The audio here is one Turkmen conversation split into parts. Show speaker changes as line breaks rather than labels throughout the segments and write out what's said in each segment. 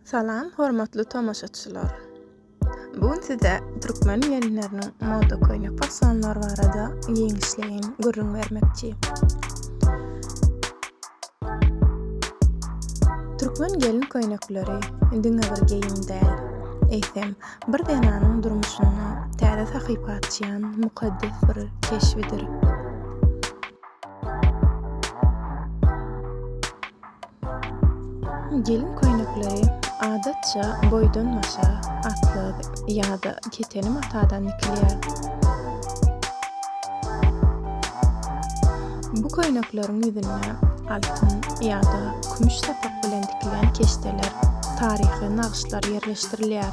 Salam hormatly tomaşaçylar. Bu gün size türkmen gelinleriniň moda köýnek fasonlary barada giňişleýin gürrüň bermekçi. Türkmen gelin köýnekleri diňe bir geýim däl, eýsem bir zenanyň durmuşynda täze sahypa açýan mukaddes bir keşbidir. Gelin köýnekleri adatça boýdan-başa atlas ýa-da keteni matadan dikilýär. Bu köýnekleriň ýüzünde altyn ýa-da kümüş sapak bilen dikilen keşdeler, taryhy nagyşlar ýerleşdirilýär.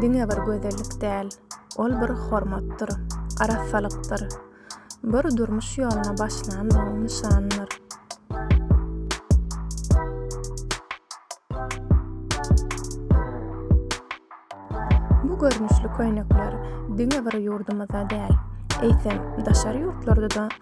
Diňe bir gözellik däl, ol bir hormatdyr, arassalykdyr, bir durmuş ýoluna başlandygyň nyşanydyr. Bu görnüşli köýnekler diňe bir ýurdumyzda däl, eýsem, daşary ýurtlarda-da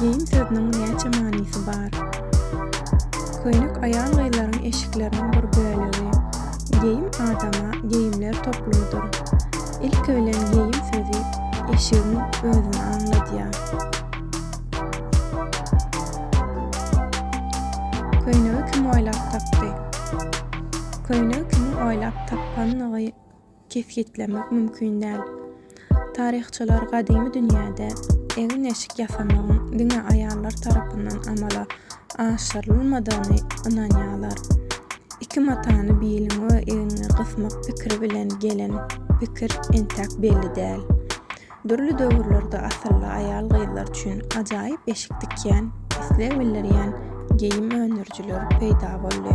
Geýim sözüniň näçe manysy bar? Köýnek aýal-gyzlaryň eşikleriniň bir bölegi. Geýim adama geýimler toplumydyr. Ilki bilen geýim sözi eşigiň özüni aňladýar. Köýnegi kim oýlap tapdy? Köýnegi kimiň oýlap tapanyny kesgitlemek mümkin däl. Taryhçylar gadymy dünýäde egin-eşik ýasamagyň diňe aýallar tarapyndan amala aşyrylmadygyny ynanýarlar. Iki matany biliňe we egniňe gysmak pikiri bilen gelen pikir entäk belli däl. Dürli döwürlerde asylly aýal-gyzlar üçin ajaýyp eşik tikýän, isleg bildirýän geýim öndürijiler peýda boldy.